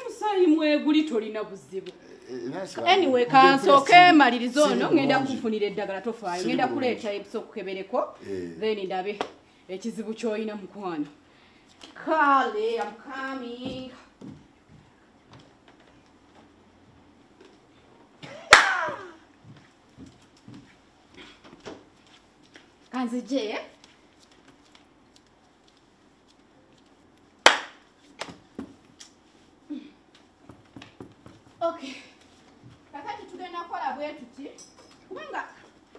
omusaayi mweguli tolina buzibu eh, anyway kansooke maliriza ono ŋenda kufunira eddagala tofaayo ŋenda kuleeta ebisa okukebereko eh. then ndabe ekizibu kyolina mukwano kale amcoming kanzije okay kakati tugenda kukola bwe tuti kubanga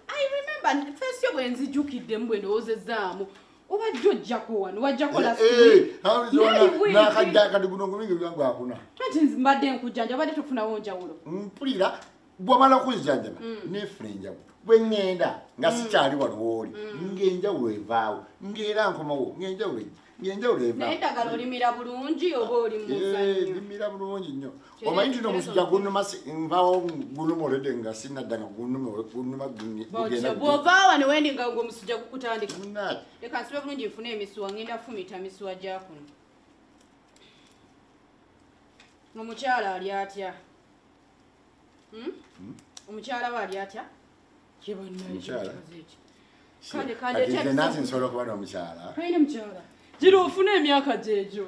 i remember fesi yo bwe nzijukiddemu bwe ndowoozezaamu obadde ojjako wano wajjakonakajjakati guno ngumingi byangu akuna kati mbadde nkujjanja obadde tofunawo njawulo mpulira bwomala okuzijjanjaba mm. nefuna enjawulo bwe ŋŋenda nga mm. sikyali waliwooli mm. ng'enjawulo evaawo ng'era nkomawo ng'enjawulo ejja ng'enjawulo evaeddagala olimira bulungi oba olimuzanyolimira eh, bulungi nnyo omanyi tino omusujja gunuma nvawo gunuma olede nga sinadda nga gunuma gunuma bwovaawa newendi nga gwe omusujja gukutandika leka nsibe bulungi nfuna emisuwa ng'enda fumita misuwa gyakuno omukyala ali atya Hmm? Hmm? omukyala we ali atya kyebananansi nsobola okuba nomukyala aine mukyala gira ofuna emyaka gyegyo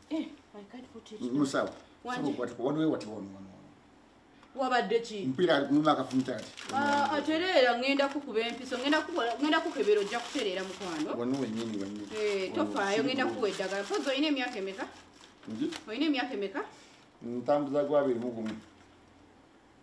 Eh, musawo wabadde ki mpira muma akafunta ati ah, atereera ngenda kukuba empiso ngenda kukebera ojja kutereera mukwano wano wenyini wenyini eh, tofaayo ngenda kuwa eddagala pozi olina emyaka emeka olina emyaka emeka ntambuza gwabiri mugumu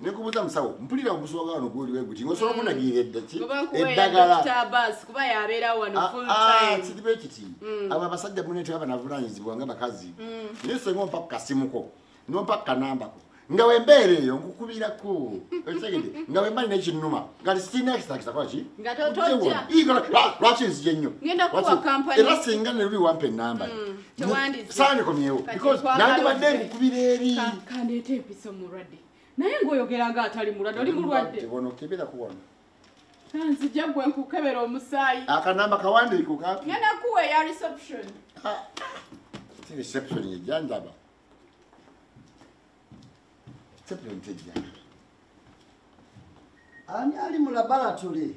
nekubuza musawo mpulira ogusoga wano guli weguti ngosobola mm. okunagirira eddaki eddagalakuba yabeerawo wano ah, full ah, time kiriba ekiti mm. abo abasajja mune tebaba navunanyizibwa nga bakazi mm. naye senga ompa kukasimuko nompa kukanambako nga wembeera eyo nkukubirako okitegede nga wemba nina ekinuma ngati sirina kisitakisakola ki lwaki nzije nnyo era singa neluli wampa enamba saanikomyewo because nandibadde nkukubira eri kandeeta empiso mulwadde naye ng'oyogera nga atali mulwadde oli mulwadde wano kebera ku wano nzija gwe nkukebera omusaayi akanamba kawandiiko kapi ngenda kuwa eya reception ah, si reception yejja ndaba reception tejja ani ali mu laboratory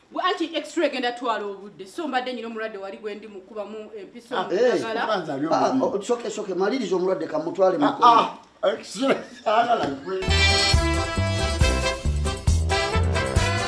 anti extra egenda twala obudde so mbadde nyina omulwadde wali gwendi mukubamu empiso ah, eh, ah, oh, oh, maliriza omulwadde kamutwale ah,